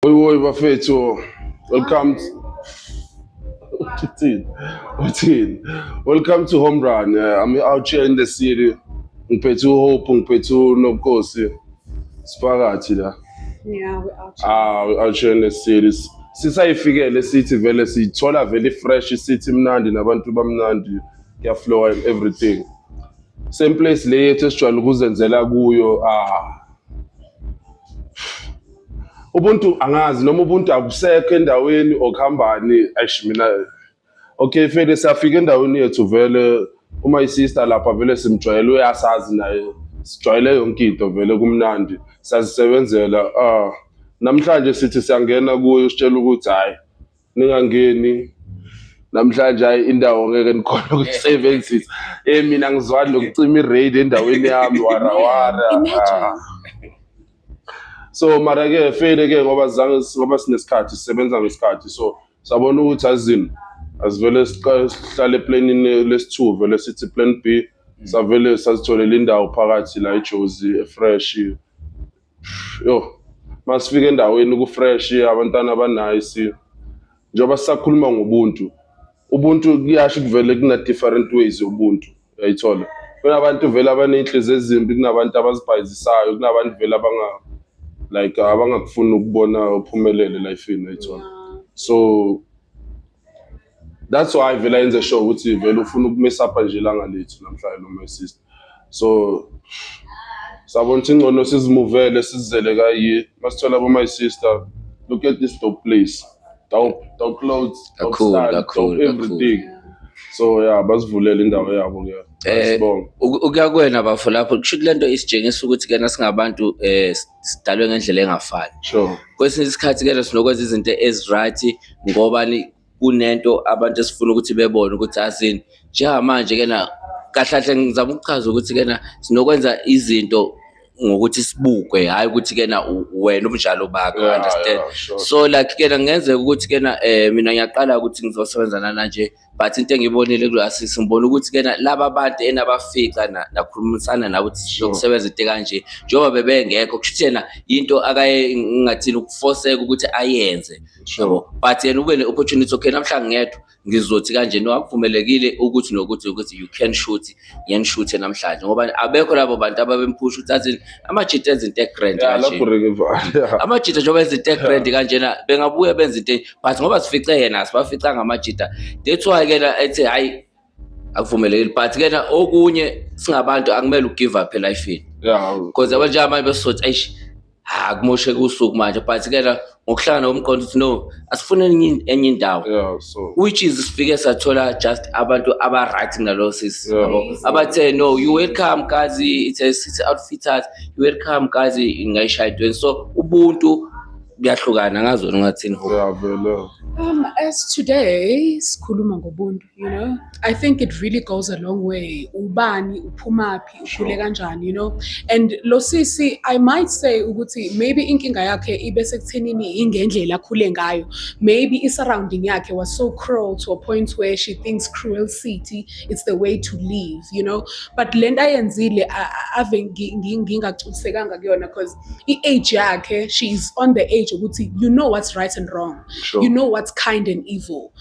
Woi woi bafethu. Welcome. Uthini? Uthini? Welcome to Home Run. Uh, I'm out here in the city. Ngiphethe uHope, ngiphethe uNobukhosi. Siphakathi la. Yeah, we out. Ah, we out here in the city. Sisayifikele sithi vele sithola vele fresh sithi mnandi nabantu bamnandi. Kuyaflow and everything. Same place le yethu esijwayele ukuzenzela kuyo. Ah. Ubuntu angazi noma ubuntu akusekho endaweni okuhambani eish mina okay fele siyafika endaweni yethu vele uma isister lapha vele simjwayele uyasazi naye sijwayele yonke into vele kumnandi sazisebenzela ah namhlanje sithi siyangena kuyo sitshela ukuthi hhayi ningangeni namhlanje hayi indawo ngeke nikhona ukusebenzisa eh mina ngizwani lokucima i-raid endaweni yami warawara ah. so mara ke fele ke ngoba zange ngoba sinesikhathi sisebenza ngesikhathi so sabona ukuthi azini asivele sihlale eplanini lesithu vele sithi plan B savele sazitholela indawo phakathi la eJozi efresh Yo, masifika endaweni kufresh abantwana abanice. Njengoba sisakhuluma ngobuntu, ubuntu kuyasho kuvele kuna different ways ubuntu. Uyayithola? Kunabantu vele abaney'nhliziyo ezimbi, kunabantu abazibhayizisayo, kunabantu vele abanga like abangakufuni ukubona uphumelele elifini, uyayithola? So that's why vele yenze sure ukuthi vele ufuna ukumesapha nje ilanga lethu namhlanje lo my sister so sabona ukuthi ingcono sizimuvele sizizele kayi masithola bo my sister look at this dope place dope dope clothes dope Kakhulu, style kakhulu, dope kakhulu. everything so yeah basivulele indawo yabo ke Eh, sibonga uku- ukuya kwena bafo lapho kusho ukuthi lento isitshengisa ukuthi kena singabantu eh sidalwe ngendlela engafani sure kwesinye isikhathi ke sinokwenza izinto eziright ngoba kunento abantu esifuna ukuthi bebone ukuthi asini njengamanje ke na kahlahle ngizama ukuchaza ukuthi ke na sinokwenza izinto ngokuthi sibukwe hayi ukuthi ke na wena umjalo bakho understand so like ke na ngenzeka ukuthi ke na eh mina ngiyaqala ukuthi ngizosebenza nana nje but into engiyibonile kula sisi ngibona ukuthi ke laba bantu enabafica nakhulumisana nabo ukuthi sizokusebenza into kanje njengoba bebengekho kusho ukuthi yena into akaye ngingathini ukufoseka ukuthi ayenze yebo but yena ube ne-opportunity okay namhlanje ngedwa ngizothi kanje no akuvumelekile ukuthi nokuthi ukuthi you can shoot ngiyanishuthe namhlanje ngoba abekho labo bantu ababemphusha ukuthi athi amajita enza into egrand Yeah, kanje lapho Ricky Vaya. amajita njengoba enza into egrand kanjena bengabuye benza into e- but ngoba sifice yena asibafica ngamajita that's why ke na ethi hayi akuvumelekile but ke na okunye singabantu akumele ugive up elifini Yeah. because abantu njengamanje besothi eish ha kumosheka usuku manje but ke la ngokuhlangana komqondo ukuthi no asifune enye enye indawo yeah so which is sifike sathola just abantu aba right nalo sisi Yeah. yabo. abathe no you welcome guys it's a city outfitters you welcome guys ngayishaya idweni so ubuntu kuyahlukana ngazona ngathini ho yeah vele Um, as today sikhuluma ngobuntu you know i think it really goes a long way ubani uphumaphi ukhule kanjani you know and lo sisi i might say ukuthi maybe inkinga yakhe ibe sekuthenini ingendlela akhule ngayo maybe i-surrounding yakhe was so cruel to a point where she thinks cruel city it's the way to live you know but le nto ayenzile ave ngingagculisekanga kuyona because i-age yakhe she is on the age ukuthi you know what's right and wrong sure. you know what's kind and evil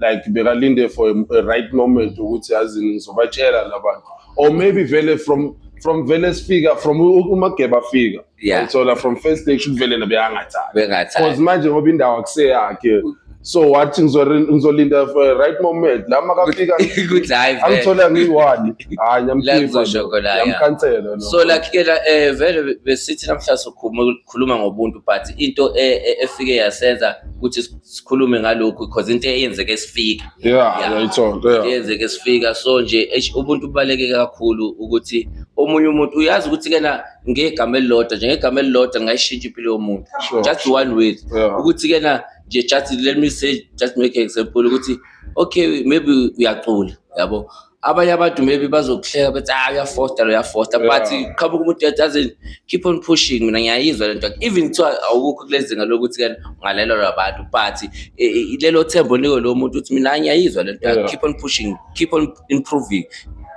like bekalinde for a, a right moment ukuthi yazi ngizobatshela labantu or maybe vele from from vele sifika from umageba afika Yeah. ayithola from first stage kuvele nabe angathanda because bengathanda manje ngoba indawo akuseyakhe so wathi ngizore- ngizolinda for a right moment la makafika ukuthi hayi vele. angithola ngiyi-one hayi La ngizosho khona, yeah. yamkhansela so like ke la eh vele besithi namhla sokhumula khuluma ngobuntu but into e, e, efike yasenza ukuthi sikhulume ngalokhu because into eyenzeke sifika yeah yayithonto yeah eyenzeke sifika so nje ubuntu ubaleke kakhulu ukuthi omunye umuntu uyazi ukuthi kena ngegama elilodwa njengegama elilodwa ngayishintsha impilo yomuntu just one way ukuthi kena nje just let me say just make an example ukuthi okay maybe uyacula yabo abanye abantu maybe bazokuhleka bethi ah uyafosta lo uyafosta but Yeah. qhamuka umuntu ethi as in keep on pushing mina ngiyayizwa lento even kuthiwa awukho kulezinga lokuthi ke ungalelo labantu but eh, eh, lelo thembo niko lo muntu uthi mina ngiyayizwa lento Yeah. keep on pushing keep on improving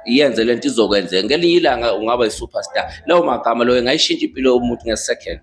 yenze lento izokwenzeka ngelinye ilanga ungaba yi-superstar lawo magama loyo ngayishintsha impilo yomuntu nge-second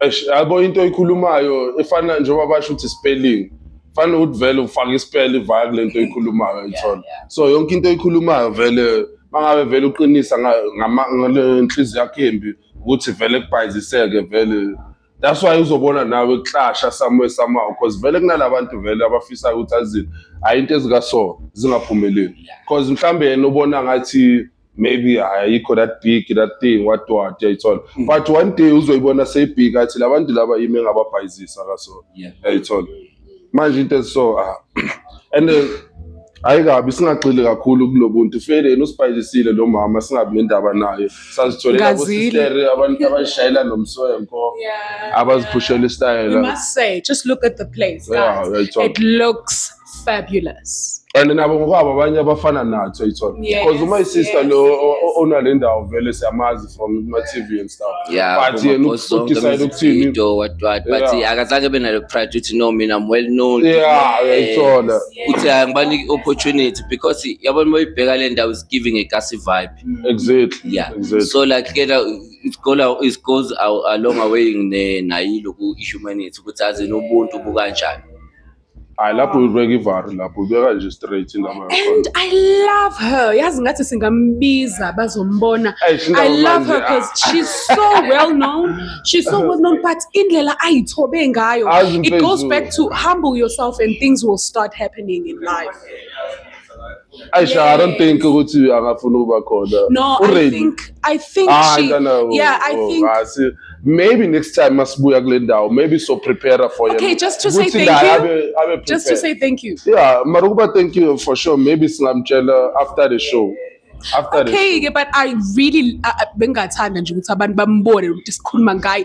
Eish, yabo into oyikhulumayo efana njengoba basho ukuthi spelling fana ukuthi vele ufake ispell ivaya kule nto oyikhulumayo ithona yeah. so yonke into oyikhulumayo vele mangabe vele uqinisa nga- ngama- ngale nhliziyo yakho embi ukuthi vele kubhayiziseke vele that's why uzobona nawe kuhlasha somewhere somehow because vele kunalabantu vele abafisa ukuthi azini hayi into ezikaso zingaphumeleli because mhlawumbe yena ubona ngathi maybe ayikho that big that thing what what yayithola mm. but one day uzoyibona seyibhika athi labantu laba yimi engababhayizisa kaso yayithola manje into so ah. and uh, hayi kabi singagxili kakhulu kulobuntu feleni usibhayisile lo mama singabi nendaba naye sazitholela abosistere abantu abashayela nomswenko abaziphushela istayela just look at the place yeah, it looks fabulous and nabo ngokwabo abanye abafana nathi uyithola Yes, because uma isister yes, lo yes. o- o- onale ndawo vele siyamazi from ma TV and stuff Yeah, but yena kuma-post zonke udecide ama-music ukuthini video, what, what, but Yeah. yeah, akazange abe nalo pride ukuthi no mina I'm well known yeah Eh, uyayithola ukuthi hayi ngibanike i-opportunity because yabona uma uyibheka le ndawo is giving a gassy vibe exactly yeah exactly so like ke la it go la- it goes a- along away ne nayi loku i humanity ukuthi aze nobuntu bukanjani hayi lapho uyibeka ivari lapho uyibeka nje straight indaba and i love her yazi ngathi singambiza bazombona i love her because ah. she's so well known she's so well known but indlela ayithobe ngayo it goes back to humble yourself and things will start happening in life Aisha, I don't think ukuthi angafuna ukuba khona. No, I Already. think I think Ah, she no, no. Yeah, I oh, think I see. Maybe next time masibuya kule ndawo, maybe so prepare for yena. Okay, just to say Ukuthi thank naye you. abe- abe just to prepared. say thank you. Yeah, mara ukuba thank you for sure. Maybe singamtshela after the show. After the Okay, ke, but I really uh, uh, bengathanda nje ukuthi abantu bambone ukuthi sikhuluma ngaye.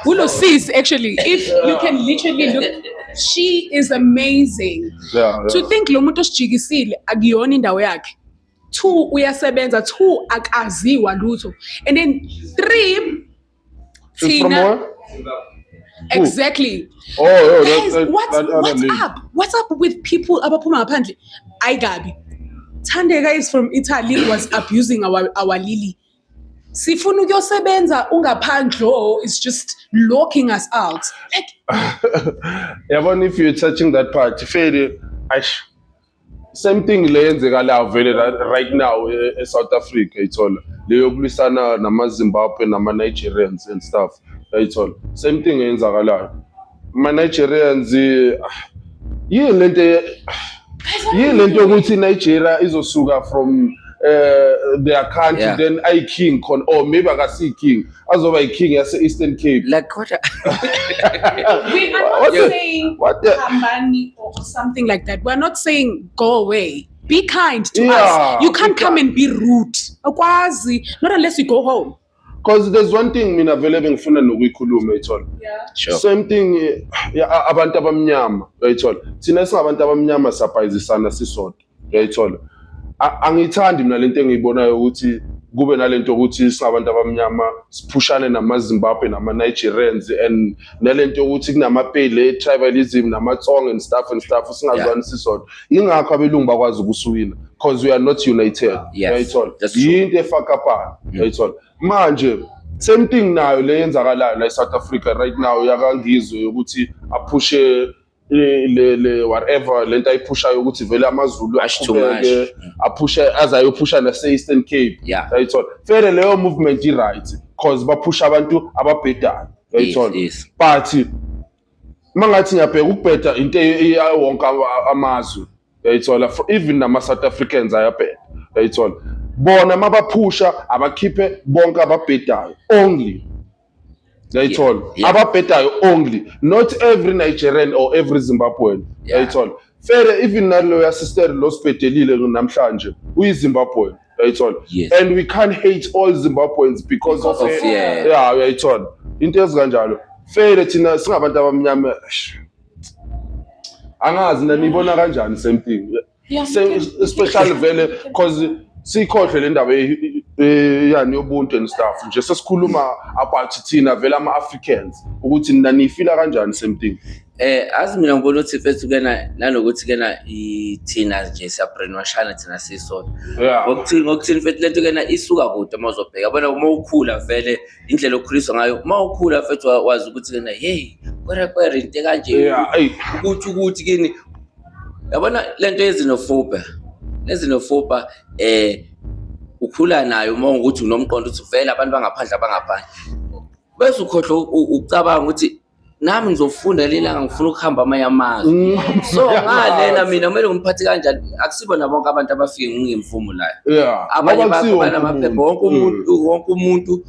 Kulo sis actually if you can literally look she is amazing. yeah, to think lo muntu osijikisile akuyona indawo yakhe two uyasebenza two akaziwa lutho and then three thina exactly oh, oh Guys, that, what's, that what's up what's up with people abaphuma ngaphandle ayi kabi thandeka is from italy was abusing our, our lily sifuna ukuyosebenza ungaphandle oh, it's just locking us out like yabona if you're touching that part feli aish same thing le yenzeka la vele right now eh, e-south africa ithola leyokulwisana nama-zimbabwe nama-nigerians and stuff yayithola same thing eyenzakalayo Ma Nigerians yini lento yini lento yokuthi Nigeria izosuka from uh, their country Yeah. then ayi king khona or maybe akasi king azoba i king yase Eastern Cape like kodwa We are not What the- saying what the- Hambani or something like that. We're not saying go away. Be kind to Yeah, us. You can't be come kind. and be rude. Okwazi, not unless you go home. Cause there's one thing mina vele bengifuna nokuyikhuluma uyithola. Sure. Same thing eh, ya- a- abantu abamnyama uyayithola. Thina singabantu abamnyama sapayizisana sisodwa uyayithola. A- Angiyithandi mina lento engiyibonayo ukuthi kube nalento ukuthi singabantu abamnyama siphushane namaZimbabwe nama Nigerians and nalento yokuthi kunamapele tribalism namatsong and stuff and stuff singazwani sisodwa ingakho abelungu bakwazi ukusuwina because we are not united Yes, uyayithola that's true. yinto efakapana uyayithola manje same thing nayo le yenzakalayo la e-south africa right now yakangizwe yokuthi aphushe le le- le whatever lento ayiphushayo ukuthi vele amazulu Much too aqhubeke much. aphushe aze ayophusha nase-eastern cape Yeah. yayithola fele leyo movement i-right cause baphusha abantu ababhedayo yayithola Yes, yes. but uma ngathi ngiyabheka ukubheda into eyayo wonke ama- amazwe yayithola Fro- even nama-south africans ayabheda yayithola bona uma baphusha abakhiphe bonke ababhedayo only yayithola yeah, yeah. ababhedayo only not every nigerian or every zimbabwean yayithola yeah. fele even nalo yasister lo sibhedelile namhlanje uyizimbabwean yayithola yes. and we can't hate all zimbabweans because, because of, of yeah, yeah uyayithola into ezikanjalo fele thina singabantu abamnyama angazi nanibona kanjani same thing especially vele because siyikhohlwe le ndaba yani yobuntu and stuff nje sesikhuluma about thina vele ama-africans ukuthi nina niyifila kanjani same thing Eh azi mina ngibona ukuthi mfethu kena nanokuthi kena ithina nje siyabrainwashana thina sisodwa. Ngokuthini ngokuthini mfethu lento kena isuka kude uma uzobheka. Bona uma ukhula vele indlela okhuliswa ngayo uma ukhula mfethu wazi ukuthi kena hey kwere kwere into kanje. Ukuthi ukuthi kini yabona le nto yezinofuba nezinofuba um ukhula nayo uma ukuthi unomqondo ukuthi vele abantu bangaphandle abangaphandle bese ukhohlwa ucabanga ukuthi nami ngizofunda lelanga ngifuna ukuhamba amanye amazwe mm. so ngalena mina kumele ngimphathi kanjani akusibona bonke abantu abafike ngingemvumo layo abanye bakhona amaphepha wonke umuntu mm. wonke umuntu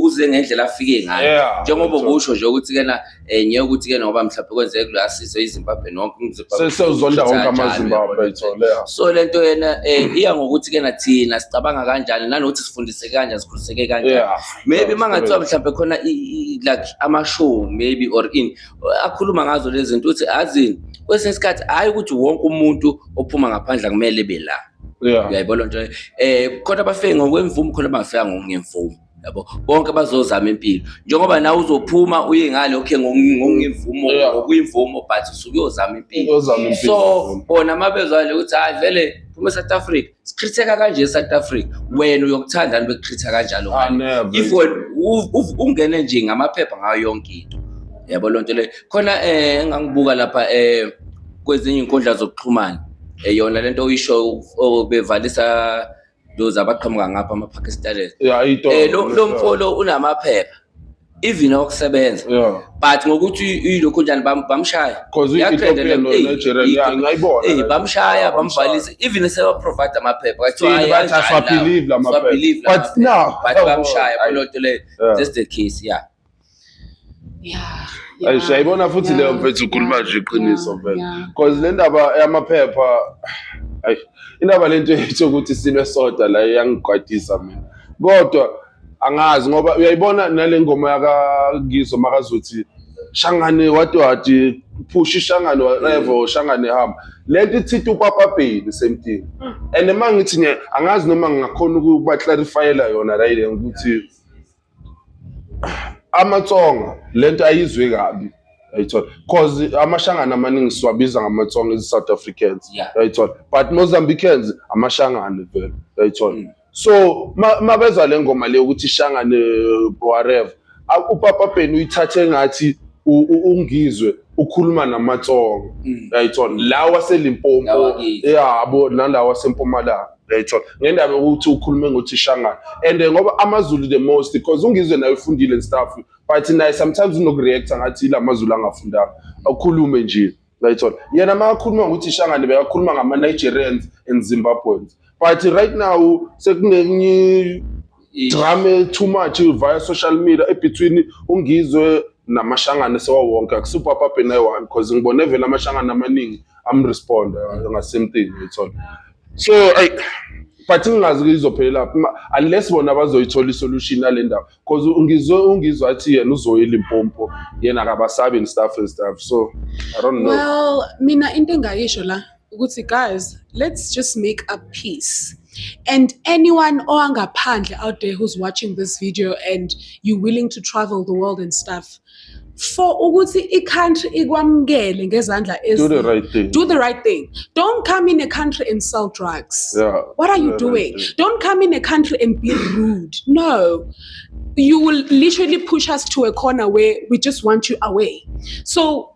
uze ngendlela afike ngayo njengoba kusho nje ukuthi kena Eh ngeke ukuthi ke ngoba mhlawumbe kwenzeke kula sizo iZimbabwe nonke uMzimbabwe. Sesizonda wonke amaZimbabwe ithole. So lento yena eh iya ngokuthi ke nathina sicabanga kanjani nanokuthi sifundiseke kanjani sikhuliseke kanjani. Maybe mangathiwa mhlawumbe khona like ama show maybe or in akhuluma ngazo lezi zinto uthi azini kwesinye isikhathi hayi ukuthi wonke umuntu ophuma ngaphandle kumele bela. Yeah. Uyayibona lento eh khona bafike ngokwemvumo khona bafika ngemvumo. yabo bonke bazozama impilo njengoba nawe uzophuma uye ngale okay ngokuyimvumo Yeah. ngokuyimvumo but usuke uyozama impilo Uyozama impilo. so bona uma bezwale ukuthi hayi vele phuma e-south africa sichitheka kanje e-south africa wena uyokuthandani bekuchitha kanjalo Ah, ngani never. if wena u- u- ungene nje ngamaphepha ngayo yonke into yabo loo nto leyo khona um engangibuka lapha um kwezinye iy'nkundla zokuxhumana um yona le nto oyisho obevalisa those abaqhamuka ngapha ama-pakistanis Yeah, ito. Eh, lo lo mfolo unamaphepha even okusebenza Yeah. but ngokuthi ilokho njani bam- bamshaya Because i- Yakrenda Ethiopia le- no- eyi, Nigeria, eyi, yeah, ngayibona eyi, le. bamshaya Yeah, bamshaya. bamvalisa even sebaprovide amaphepha Thina Kuthiwa, bathi "Hayi, asiwabelieve la maphepha." siwabelieve la But maphepha. now- but bamshaya Ayi. kuloto leyo Yeah. that's the case yeah Ayi siyayibona futhi leyo mfethu ukhuluma nje iqiniso mfethu. Cause le ndaba yamaphepha ayi indaba lento yethu ukuthi silwe soda la iyangigwadisa mina. Kodwa angazi ngoba uyayibona nale ngoma yakaNgizo makazothi shangane wadwadi phusha ishangane whatever mm. shangane hamba lento ithitha upapa bheli same thing mm. and uma ngithi angazi noma ngingakhona ukuba clarifyela yona la ukuthi amatsonga lento ayizwe kabi yayithola cause amashangana amaningi siwabiza ngamatsonga ezi South Africans yayithola but Mozambicans amashangane vele yayithola mm. so mabeza le ngoma le ukuthi shangane whatever upapa Ben uyithathe ngathi ungizwe ukhuluma namatsonga mm. yayithola lawa selimpopo yabo nalawa sempumalanga uyayithola ngendaba yokuthi ukhulume ngothishangana and eh, ngoba amazulu the most because ungizwe naye ufundile and stuff but naye sometimes unokureacta ngathi ila mazulu angafundanga akhulume nje uyayithola yena uma akhuluma ngokuthi ishangane bekakhuluma ngama-nigerians and zimbabweans but right now sekunenye drame too much via social media ebetween ungizwe namashangane sewawonke akusupapa bhe naye one because ngibone vele amashangane amaningi amresponda uh, ngasame thing uyithola so ay but ngingazi kuyizophelela unless bona bazoyithola isolution yale ndaba because ungizwe ungizwe athi yena uzoyela impompo yena akabasabi and stuff and stuff so i don't know well mina into engayisho la ukuthi guys let's just make a peace and anyone owangaphandle out there who's watching this video and you willing to travel the world and stuff for ukuthi i-country ikwamukele ngezandla do the right thing do the right thing don't come in a country and sell drugs yeah, what are you doing right don't come in a country and be rude no you will literally push us to a corner where we just want you away so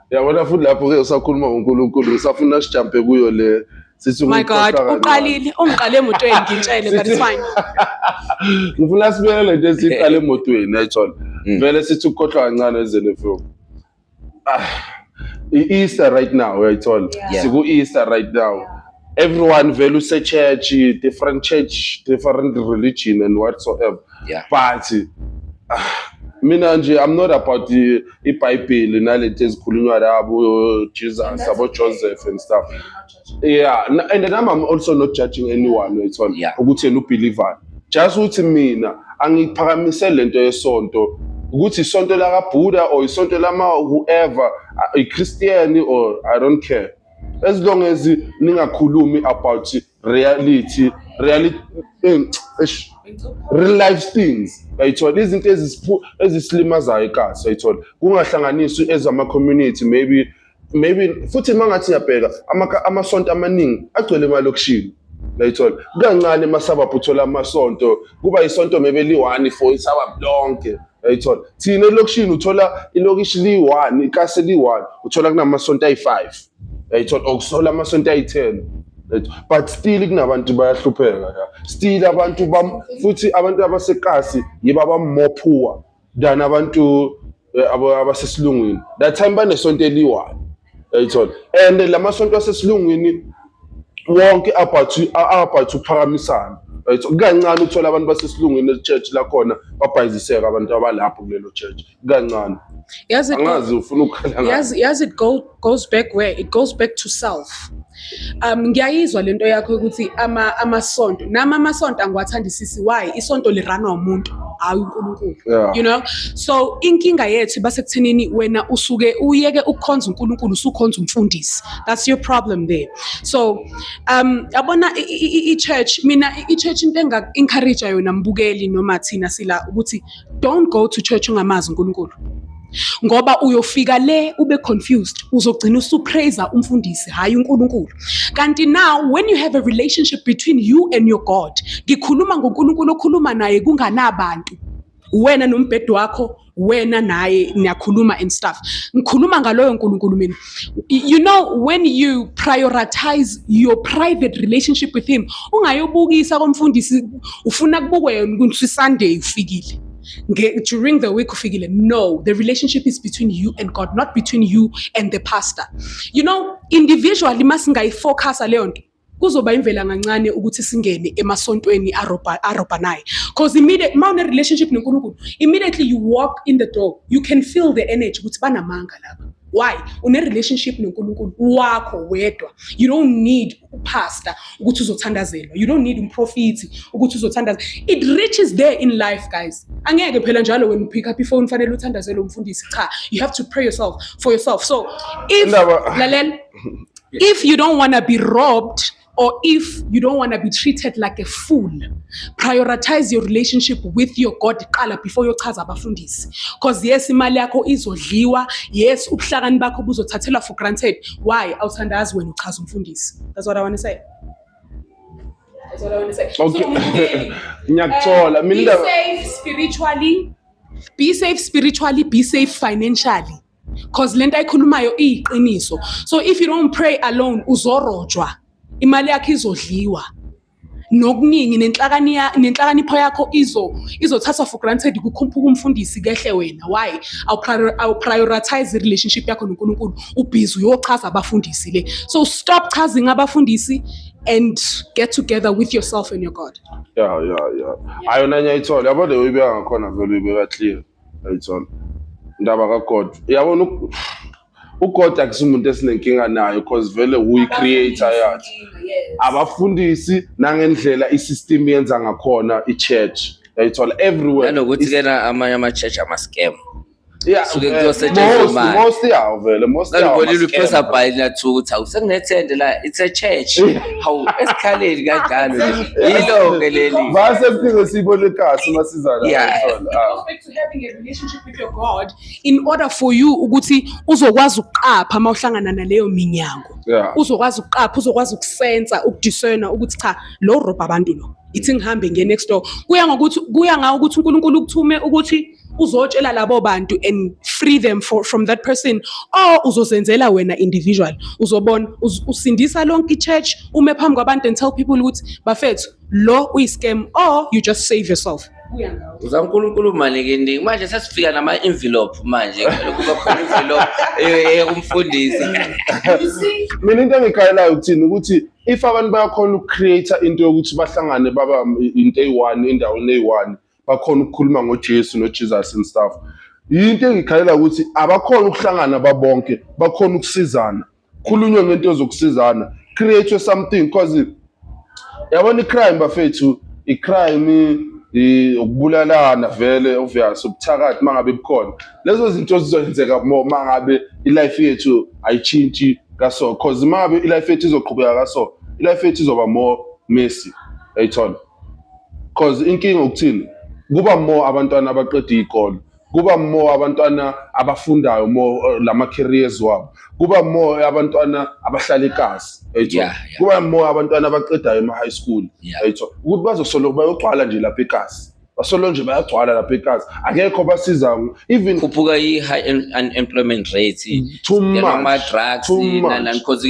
yabona futhi lapho-ke usakhuluma ngonkulunkulu usafuna sijampe kuyo le sithi my god uqalile ungiqale emotweni ngitshele but it's fine ngifuna sibuyele lento esiqale emotweni ayithole mm. vele sithi ukukhohlwa kancane ezele mfowethu ah, i-easter right now uyayithola siku-easter right now yeah. everyone vele usechurch different church different religion and whatsoever Yeah. but ah, mina nje i'm not about the- ibhayibheli nalento ezikhulunywa labo jesus And that's abo okay. joseph and stuff Okay, not judging. yeah na- and then i'm I'm also not judging anyone it's all Yeah. ukuthi yena ubhilivani just ukuthi mina angiphakamise lento yesonto ukuthi isonto lakabhuda or isonto lama whoever uh, ichristian or i don't care as long as ningakhulumi about reality reality eh, real life things yayithola izinto ezisilimazayo ikazi yayithola kungahlanganiswa ezama community maybe maybe futhi mangathi ngiyabheka amasonto amaningi agcwele emalokishini yayithola kancane emasababhu uthola amasonto kuba isonto maybe liyi-one for isababhu lonke yayithola thina elokishini uthola ilokishi liyi-one ikase liyi-one uthola kunamasonto ayi-five yayithola okusola amasonto ayithelo but still kunabantu bayahlupheka ya still abantu bam futhi abantu abasekasi yibo abamore poor than abantu eh, abo- abasesilungwini that time banesonto eliwayo yayithola and la masonto asesilungwini wonke abhathu abhathu phakamisana right kukancane uthola abantu basesilungwini church lakhona babhayiziseka abantu abalapho kulelo church kancane yazi angazi ufuna ukukhala ngayo yazi yazi it go, goes back where it goes back to self um ngiyayizwa lento yakho ukuthi ama amasonto nama amasonto angiwathandisisi why isonto liranwa umuntu hayi uNkulunkulu Yeah. you know so inkinga yethu basekuthenini wena usuke uyeke ukukhonza uNkulunkulu usukhonza umfundisi that's your problem there so um yabona i- i- i- i-church mina i- i-church into enga encourage yona mbukeli noma thina sila ukuthi don't go to church ungamazi uNkulunkulu ngoba uyofika le ube confused uzogcina usupraise umfundisi hayi uNkulunkulu kanti now when you have a relationship between you and your God ngikhuluma ngoNkulunkulu okhuluma naye kunganabantu wena nombhedo wakho wena naye niyakhuluma and stuff ngikhuluma ngaloyo nkulunkulu mina you know when you prioritize your private relationship with him ungayobukisa komfundisi ufuna kubukwe yona ukuthi isunday ufikile during the week ufikile no the relationship is between you and god not between you and the pastor you know individually masingayifocusa leyo nto kuzoba imvela kancane ukuthi singene emasontweni arobhanayo because immediate uma une-relationship nonkulunkulu immediately you walk in the door you can feel the energy ukuthi banamanga laba why une-relationship nonkulunkulu wakho wedwa you don't need upastor ukuthi uzothandazelwa you don't need umprofiti ukuthi uzothandazelwa it reaches there in life guys angeke phela njalo wena upick up ifoni fanele uthandazelwe umfundisi cha you have to pray yourself for yourself so if lalela if you don't want to be robbed or if you don't want to be treated like a fool prioritize your relationship with your god qala before yochaza abafundisi because yes imali yakho izodliwa yes ubuhlakani bakho buzothathelwa for granted why awuthandazi wena uchaza umfundisi that's what i want to say that's what i want to say okay ngiyakuthola eh, mina be safe spiritually be safe spiritually be safe financially cause lento ayikhulumayo iyiqiniso so if you don't pray alone uzorojwa imali yakhe izodliwa nokuningi nenhlakani nenhlakanipho yakho izo izothathwa for granted kukhuphuka umfundisi kehle wena why awu prioritize relationship yakho noNkulunkulu ubhizi uyochaza abafundisi le so stop chazing abafundisi and get together with yourself and your God yeah yeah yeah ayona nyayithola yabo le uyibeka ngakhona vele uyibeka clear ayithola indaba kaGod uyabona uGod akusimuntu esinenkinga nayo because vele uyi-creator yathi abafundisi nangendlela i-system yenza ngakhona i-church yayithola everywhere nanokuthi kena amanye ama-church ama-scam Yeah, suke kuyosetshenzwa imali most yawo vele most yawo nalibonile uphesa bhayi linathuka ukuthi awusekunethende la it's a church hawu esikhaleni kanjalo yilo-ke leli vase kuphinde siyibone igasi uma sizana Yeah. ngayithola. Ah. Perfect to having a relationship with your God in order for you ukuthi uzokwazi ukuqapha uma uhlangana naleyo minyango Yeah. uzokwazi ukuqapha uzokwazi ukusensa ukudiscerna ukuthi cha lo robha abantu lo ithi ngihambe ngiye next door kuya ngokuthi kuya ngawo ukuthi uNkulunkulu ukuthume ukuthi uzotshela labo bantu and free them for, from that person or uzozenzela wena individual uzobona uz, usindisa lonke ichurch ume phambi kwabantu and tell people ukuthi bafethu lo uyiscam or you just save yourself uza uNkulunkulu maningi manje sesifika nama envelope manje kuba khona envelope ekumfundisi mina into engikhalelayo ukuthini ukuthi if abantu bayakhona ukucreate into yokuthi bahlangane baba into eyi-one endaweni eyi-one bakhona ukukhuluma ngoJesu noJesus and stuff yinto engikhalela ukuthi abakhona ukuhlangana babonke bakhona ukusizana khulunywe ngento zokusizana create something because yabona icrime bafethu icrime ukubulalana vele obvious ubuthakathi mangabe bukhona lezo zinto zizoyenzeka more mangabe ilife yethu ayitshintshi kaso cause mangabe ilife yethu izoqhubeka kaso ilife yethu izoba more messy ayithona cause inkinga ukuthini kuba more abantwana abaqeda iy'kole kuba more abantwana abafundayo more uh, lama careers wabo kuba more abantwana abahlala ekasi yayitho Yeah, yeah. kuba more abantwana abaqedayo ema high school Yeah. yayitho ukuthi bazosolo bayogcwala nje lapha ekasi basolo nje bayagcwala lapha ekasi akekho basiza even khuphuka i high unemployment rate mm, too much ama drugs nana because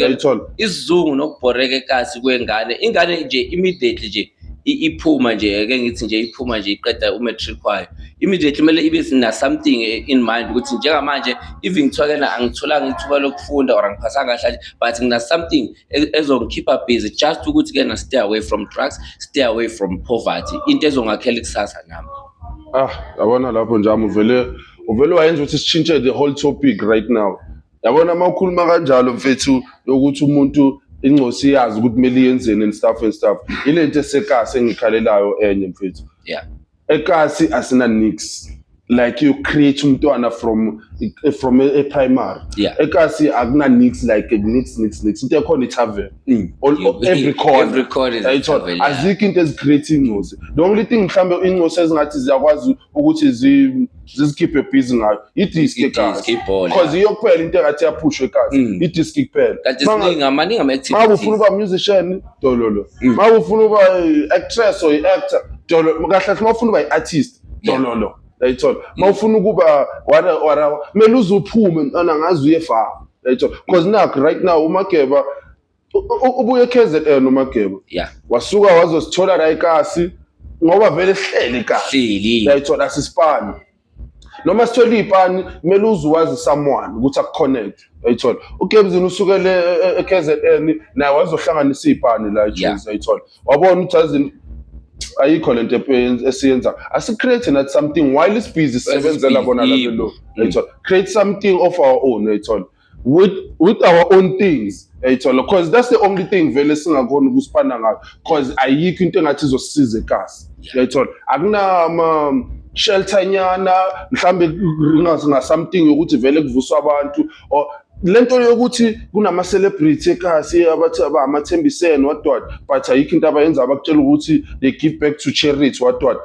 isizungu nokubhoreka ekasi kwengane ingane nje immediately nje iphuma nje ake ngithi nje iphuma nje iqeda umatric wayo immediately kumele ibe na something in mind ukuthi njengamanje even kuthiwa kena angitholanga ithuba lokufunda or angiphasanga kahle but ngina something e-, ezongikhipha busy just ukuthi kena stay away from drugs stay away from poverty into ezongakhela ikusasa nami ah yabona lapho njami uvele uvele wayenza ukuthi sishintshe the whole topic right now yabona uma ukhuluma kanjalo mfethu yokuthi umuntu ingcosi iyazi ukuthi kumele iyenzeni and stuff and stuff ile nto esekasi engikhalelayo enye mfethu yeah ekasi asina nix like you create umntwana from from a, a primary yeah. ekasi akuna nix like nix nix nix into ekhona itavern Mm. All, You- all- every corner every corner is a Yayithola. tavern, yeah. azikho into ezicreate ingcosi the only thing mhlawumbe ingcosi ezingathi ziyakwazi ukuthi zi- zizikhiphe busy ngayo i-disk I-disc, ekazi ibhola. because iyo kuphela into engathi yaphushwa ekazi Mm. i-disk kuphela kanti Manga- ziningi amaningi ama ma ufuna uba musician dololo Mm. ma ufuna uba i-actress or i-actor dololo kahle kahle ma ufuna uba i-artist Yeah. dololo yayithola uma ufuna ukuba wara wara kumele uze uphume mntana ngazi uye far yayithola because nakho right now umageba u- u- ubuye KZN umageba ya wasuka wazosithola la ikasi ngoba vele sihleli ikasi hleli yayithola sisipani noma sithole iy'pani kumele uze wazi someone ukuthi akuconnect yayithola ugebzini usukele e- e- e-kzn naye wazohlanganisa iy'pani la Yeah. ejuzi yayithola wabona ukuthi azini ayikho le nto epe- esiyenza asicreate nathi something while isibhizi sisebenzela bona Isibhizi, yebo. labelo uyayithola create something of our own uyayithola with with our own things uyayithola because that's the only thing vele singakhona ukusipana ngayo because ayikho into engathi izosisiza ekasi uyayithola akunama shelter nyana mhlambe ngathi nga something yokuthi vele kuvuswa abantu or lento yokuthi kunama celebrity ekhasi abathi abamathembisene what what but ayikho into abayenza abakutshela ukuthi they give back to charity what what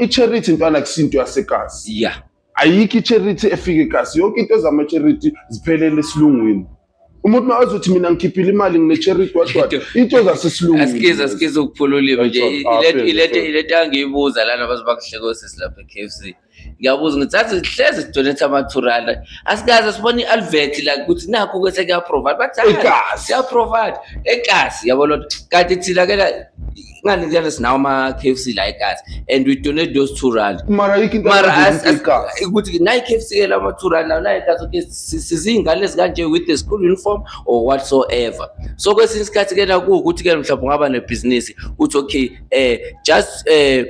i charity intwana kusinto yasekazi yeah ayikho i charity efike ekhasi yonke into ezama charity ziphelele esilungwini umuntu mawazothi mina ngikhiphile imali ngine-charity wadwada into zasesilungisikiza sikiza ukuphula ulimi nje ileta angiyibuza lana bazobakuhlekosisi lapha e-k f c ngiyabuza ngithi athi hlezi sidonethe amathurana asikaze sibone i-alvet la ukuthi nakho ke sekuyaprovide bathi siyaprovide egazi yabo loo nto kanti thina ke la ngani njalo sinawo ama-k f c la egazi and we donate those two rand mara ukuthi nayi k f c ke lama two rand lawo nayi gazi okay siziyingane ezikanje with the school uniform or whatsoever so kwesinye isikhathi ke la kuwukuthi ke mhlawumbe ungaba nebhizinisi uthi okay um just um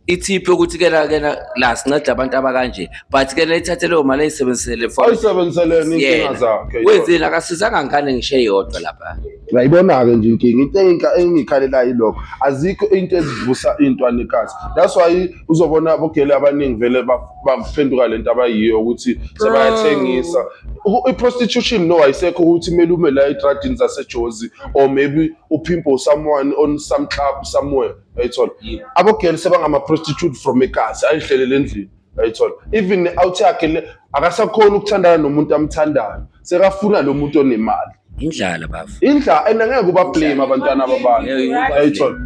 ithiphe ukuthi kena kena la sinceda abantu abakanje but kena ithathe leyo mali ayisebenzisele for ayisebenziseleni inkinga yena zakhe wenzeni akasizanga ngane ngisho eyodwa lapha ngayibona-ke nje inkinga into enginka- engikhalela yilokho azikho into ezivusa iy'ntwanekazi that's why uzobona abogeli abaningi vele ba- baphenduka le nto abayiyo ukuthi sebayathengisa U- i-prostitution no ayisekho ukuthi kumele ume la etradini zasejozi or maybe uphimpo someone on some club somewhere ayithola abogirl sebangama prostitute from egazi ayihlelele endlini ayithola even ne-out yakhe le akasakhona ukuthandana nomuntu amthandayo sekafuna lo muntu onemali indlala bafo indla and angeke ubablame abantwana ababantu ayithola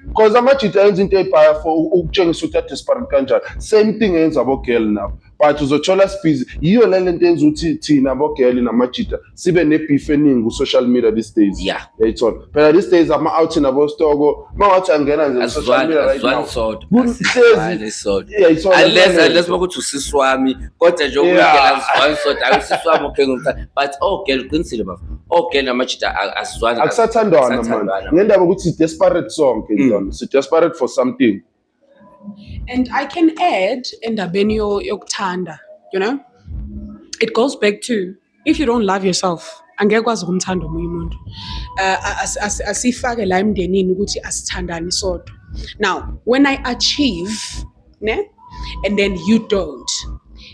because amajita enza into ebhaya for ukutshengisa ukuthi adesperate kanjani same thing eyenza abogirl nabo but uzothola sibhizi yiyo le lento yenza ukuthi thina bogeli namajita sibe nebeef eningi ku-social media these days Yeah. yayithola phela these days ama-out nabostoko uma wathi angena nje ku-social Asizwani media right asizwani now sodwa. Kuhlezi- Asizwani sodwa. yayithola Unless unless bakuthi usisi wami kodwa nje Yeah. ukungena asizwani sodwa ayi usisi wami okay ngimthanda but oh girl uqinisile bafo. Oh girl namajita a- asizwani. akusathandwana manje Akusathandwana. ngendaba ukuthi si-desperate sonke Mm. mm. si-desperate for something And I can add endabeni yokuthanda, you know? It goes back to if you don't love yourself, angeke kwazi ukumthanda omunye umuntu. Uh, asifake la emndenini ukuthi asithandani sodwa. Now, when I achieve, ne? And then you don't.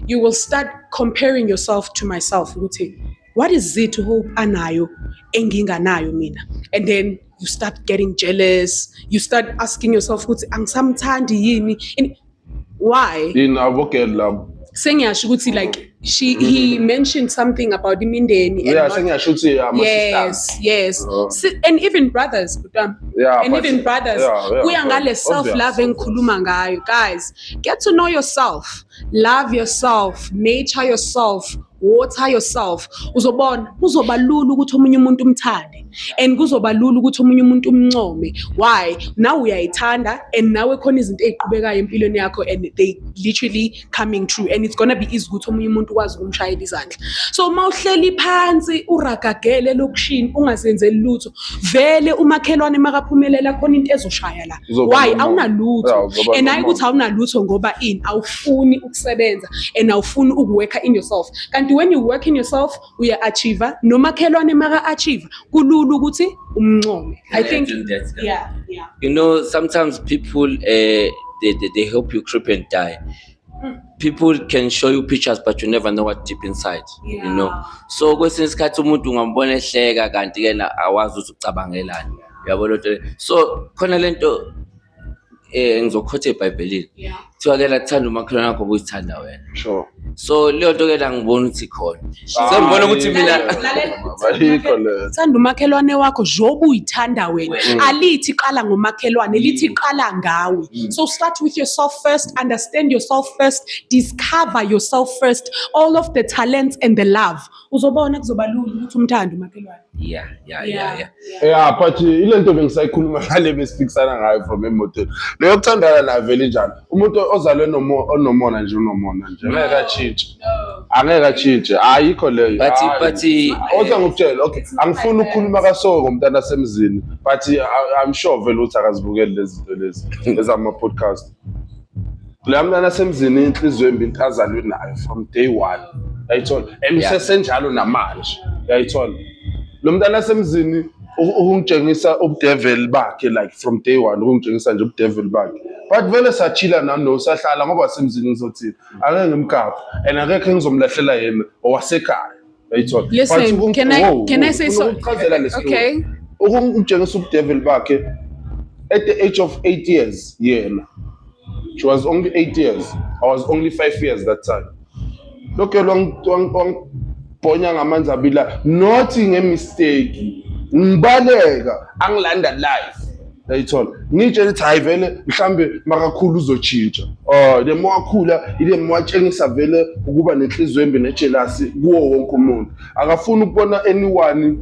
You will start comparing yourself to myself ukuthi what is it hope anayo enginganayo mina and then you start getting jealous you start asking yourself ukuthi angisamthandi yini In- why yini abogel labo sengiyasho ukuthi like she he mentioned something about imindeni and yeah not- sengiyasho ukuthi ama yes yes Oh. Si- and even brothers kutwa Yeah, and but- even brothers yeah, yeah, kuya ngale obvious, self love obvious. engikhuluma ngayo guys get to know yourself love yourself nature yourself water yourself uzobona kuzoba lula ukuthi omunye umuntu umthande and kuzoba lula ukuthi omunye umuntu umncome why nawe uyayithanda and nawe khona izinto eziqhubekayo empilweni yakho and they literally coming true and it's gonna be easy ukuthi omunye umuntu ukwazi ukumshayela izandla so uma uhleli phansi uragagele lokushini ungazenzeli lutho vele umakhelwane makaphumelela khona into ezoshaya la why awunalutho and hayi ukuthi awunalutho ngoba in awufuni ukusebenza and awufuni ukuworka in yourself kanti when you work in yourself uya-achieva nomakhelwane maka-achieva kulula ukuthi umncome i think yeah, yeah. you know sometimes people uh, they, they, they help you creep and die hmm. people can show you pictures but you never know what deep inside yeah. you know so kwesinye isikhathi umuntu ungambona ehleka kanti yena awazi ukuthi ucabangelani yabo lento so khona lento eh ngizokhotha eBhayibhelini yeah kuthiwa ke la thanda umakhelwane wakho obuyithanda wena sure so leyo nto ke la ngibona ukuthi khona sengibona ukuthi mina Ayikho le. thanda umakhelwane wakho njengoba uyithanda wena Mm. alithi qala ngomakhelwane lithi qala ngawe Mm. so start with yourself first understand yourself first discover yourself first all of the talents and the love uzobona kuzoba lula ukuthi umthande umakhelwane yeah yeah yeah yeah yeah but uh, ile nto bengisayikhuluma ngale besiphikisana ngayo from emotweni leyo yokuthandana nayo vele njalo umuntu ozalwe onomona nje unomona nje ngeke atshintshe angeke atshintshe ayikho leyo but but uh, oza ngokutshela okay angifuni ukukhuluma kasoko ngomntana asemzini but uh, i'm sure vele ukuthi akazibukeli lezi zinto lezi ezama podcast la mntana semzini inhliziyo embi into azalwe nayo from day one yayithola and usesenjalo namanje yayithola lo mntana semzini ukungitshengisa ubudeveli bakhe like from day one ukungitshengisa nje ubudeveli bakhe but vele sathila nano sahlala ngoba semzini ngizothini angeke ngimgapha and akekho engizomlahlela yena owasekhaya Uyayithola. But Listen, ukum- can I Wow, can I wow, say ufuna so? ukuchazela le story. Okay. ukumtshengisa ubudevil bakhe at the age of 8 years yena she was only 8 years i was only 5 years that time lokho wangibhonya ngamanzi abila not ngemistake ngibaleka angilanda life yayithola ngitshela ukuthi hayi vele mhlambe makakhulu uzotshintsha um the more akhula ile more atshengisa vele ukuba nenhliziyo embi nejelasi kuwo wonke umuntu akafuni ukubona anyone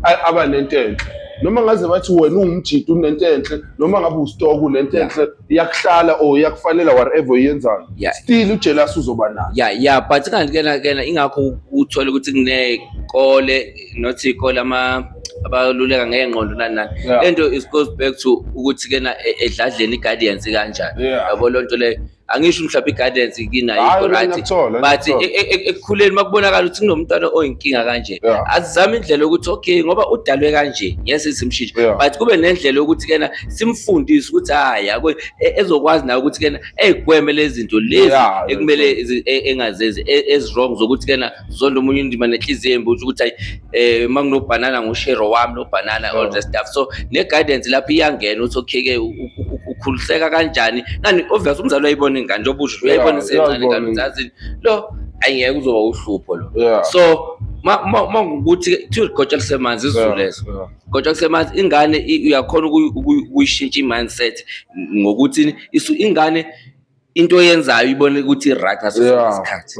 aba nento enhle noma ngaze bathi wena uwumjita unento enhle noma ngabe usitoko unento enhle iyakuhlala or iyakufanela whatever uyenzayo yeah. still ujealous uzoba nayo yeah yeah but kanti kena kena ingakho uthola ukuthi kunekole not ikole ama abaluleka ngengqondo nani nani yeah. lento is goes back to ukuthi kena e, edladleni guidance kanjani yeah. yabo lonto le angisho mhlawumbe i-guidance kinayo right but e, e, ekukhuleni makubonakala ukuthi kunomntwana oyinkinga kanje azizame indlela yokuthi okay ngoba udalwe kanje ngeke sizimshintshe but kube nendlela yokuthi kena simfundise ukuthi hayi yako e- ezokwazi naye ukuthi kena egweme lezi zinto lezi Yeah, ekumele zi- e- engazenzi e- ezirong zokuthi kena zonda omunye indima nenhliziyo embi uthi ukuthi hayi eh uma kunobhanana ngushero wami nobhanana all Sure. the stuff so ne guidance lapho iyangena uthi okay ke u- u- u- ukhuliseka kanjani ngani obvious umzali uyayibona ingane njengoba usho Yeah, uyayibona isencane uyayibona kanti ingane. uzazi lo ayingeke uzoba uhlupho lo yeah so ma ma ma ukuthi kuthiwa igotsha lisemanzi izulu Yeah, lezo yeah. kodwa kusemanje ingane uyakhona ukuyishintsha i-mindset ngokuthi ingane into eyenzayo ibone ukuthi i-right ngaso sonke isikhathi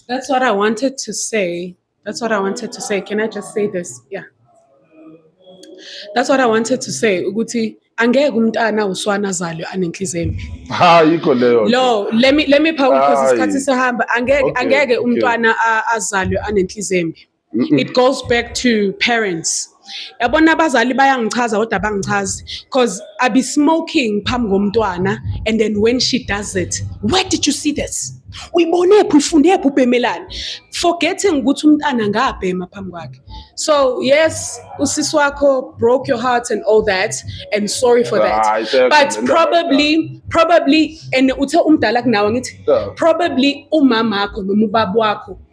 That's what I wanted to say. That's what I wanted to say. Can I just say this? Yeah. That's what I wanted to say ukuthi angeke umntana uswana zalo anenhliziyo embi ha yikho leyo lo let me let me power because isikhathi sihamba angeke angeke umntwana azalwe anenhliziyo embi it goes back to parents yabona abazali bayangichaza kodwa bangichazi because i be smoking phambi komntwana and then when she does it where did you see this uyibonephi uyifundephi ubhemelani forgetting ukuthi umntana ngabhema phambi kwakhe so yes usisi wakho broke your heart and all that and sorry for that ah, but probably probably and uthe umdala kunawe ngithi probably umama wakho noma ubaba wakho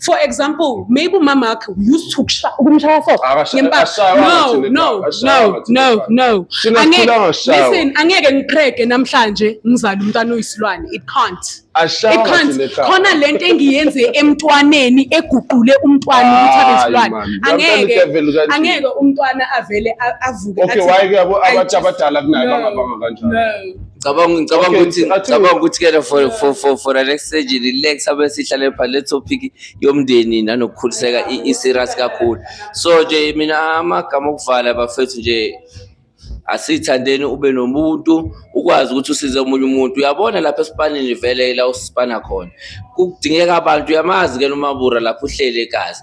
for example maybe umama wakhe used to ukumshaya for no no no no no listen angeke ngiqhege namhlanje ngizala umntana uyisilwane it can't it can't khona lento engiyenze emntwaneni eguqule umntwana ukuthi abe isilwane angeke angeke umntwana avele avuke okay why ke abantu abadala kunayo bangabanga kanjani Ngicabanga ngicabanga Okay, ukuthi I think- ngicabanga ukuthi ke la for for for for the next stage relax abe sihlale pha le topic yomndeni nanokukhuliseka i i- serious kakhulu. So nje mina amagama okuvala bafethu nje asithandeni ube nomuntu ukwazi ukuthi usize omunye umuntu uyabona lapha esipanini vele la usipana khona kudingeka abantu uyamazi ke nomabura lapho uhleli egazi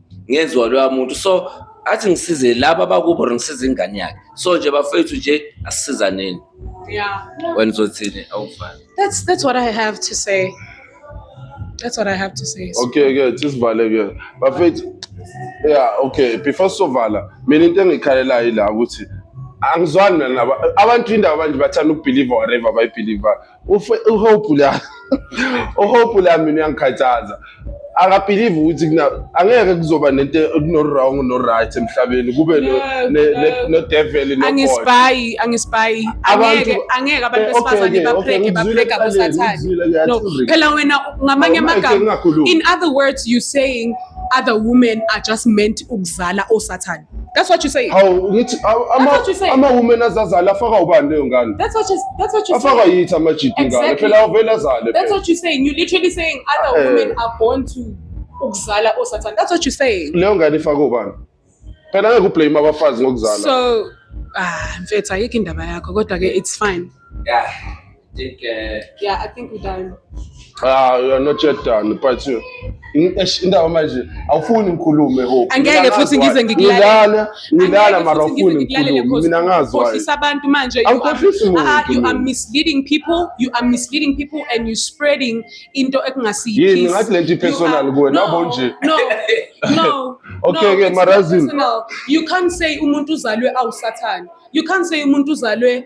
ngezwa loya muntu so athi ngisize laba bakubo ngisize ingane yakhe so nje bafethu nje asisizaneni Yeah. wena uzothini awufani That's that's what I have to say. That's what I have to say. okay ke sisivale ke bafethu yeah okay before sovala mina into engikhalelayo ila ukuthi angizwani nabo abantu indaba manje bathanda ukubelieve whatever bayibelieve uhope la uhope la mina uyangikhathaza akabhilive ukuthi angeke kuzoba nento kuno-wrong no-right emhlabeni kube no-devil angispayi angispayi angeke angeke abantu eh, besifazane bapreke bapreka kusathane no phela wena ngamanye amagama in other words you saying other women are just meant ukuzala osathane That's what you say. Hawu ngithi aw- ama what you say. ama women azazala afaka ubani leyo ngane? That's what you that's what you Afaka say. yithi amajidi ngane. Exactly. Phela avele azale. That's phela. what you're saying. You're literally saying other Eh. women are born to ukuzala or Satan. That's what you're saying. Leyo ngane ifaka ubani? Phela ngeke ublame abafazi ngokuzala. So ah mfethu ayikho indaba yakho kodwa ke it's fine. Yeah, I think. Uh, yeah, I think we're done. Ah, you are not yet done, but you. indawo manje awufuni ngikhulume ho angeke futhi ngize ngikulalele ngilala mara awufuni ngikhulume mina ngazi khohlisa abantu manje you are, ah, you are misleading people you are misleading people and you spreading into ekungasiyiyo yini ngathi lento personal kuwe nabo nje no no okay ke marazini you can't say umuntu uzalwe awusathane you can't say umuntu uzalwe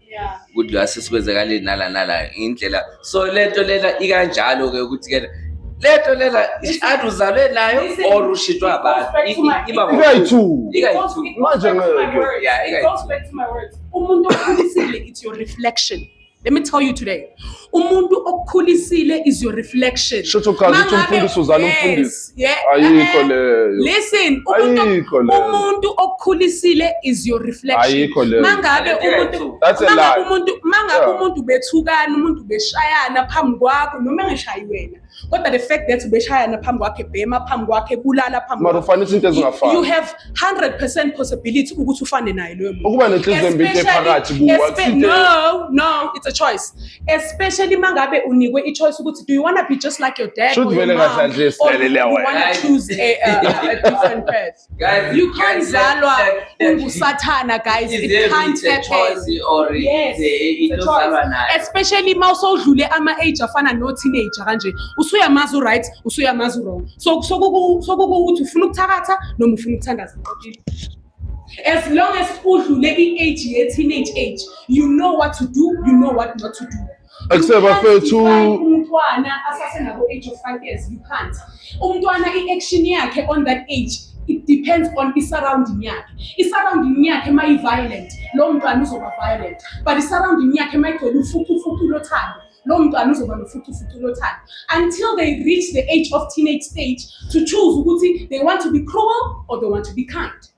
ukuthi la sesikwenzekale nala nala indlela so lento lena ikanjalo ke ukuthi ke lento lena ishadu uzalwe nayo or ushitwa abantu iba ikayithu ikayithu manje ngeke yeah ikayithu umuntu okhulisile it's your reflection let me tell you today umuntu okukhulisile is your reflection shutho chaza ukuthi umfundisi uzala umfundisi ayikho leyo listen ayikho leyo umuntu okukhulisile is your reflection ayikho leyo mangabe umuntu that's a lie umuntu mangabe umuntu bethukana umuntu beshayana phambi kwakho noma engashayi wena kodwa the fact that ubeshayana phambi kwakhe bhema phambi kwakhe kulala phambi mara ufanisa into ezingafani you have 100% possibility ukuthi ufane naye loyo muntu ukuba nenhliziyo embi into ephakathi kuwa no no it's a choice especially mangabe unikwe i choice ukuthi do you want to be just like your dad or your mom or do you want to choose a, a, a different path Guys, you can't zalwa ungusathana guys it can't happen yes especially uma usowudlule ama age afana no teenager kanje usuyamazi right usuyamazi wrong so sokuku sokuku uthi ufuna ukuthakatha noma ufuna ukuthandaza as long as udlule i age ye teenage age you know what to do you know what not to do Akuse bafethu umntwana asase nabo age of 5 years you can't. Umntwana i-action yakhe on that age it depends on i-surrounding yakhe. I-surrounding yakhe uma i-violent, lowo mntwana uzoba violent. But i-surrounding yakhe uma igcwele ufucufucu lothando, lowo mntwana uzoba nofucufucu lothando. Until they reach the age of teenage stage to choose ukuthi they want to be cruel or they want to be kind.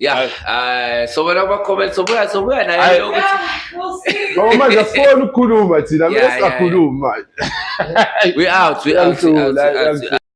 Yeah, uh, so wena uma comment so buya so buya naye ukuthi Ngoba manje asifuni ukukhuluma thina, Yeah, bese yeah, yeah. sakhuluma manje. we out we out. we out, we out, we out.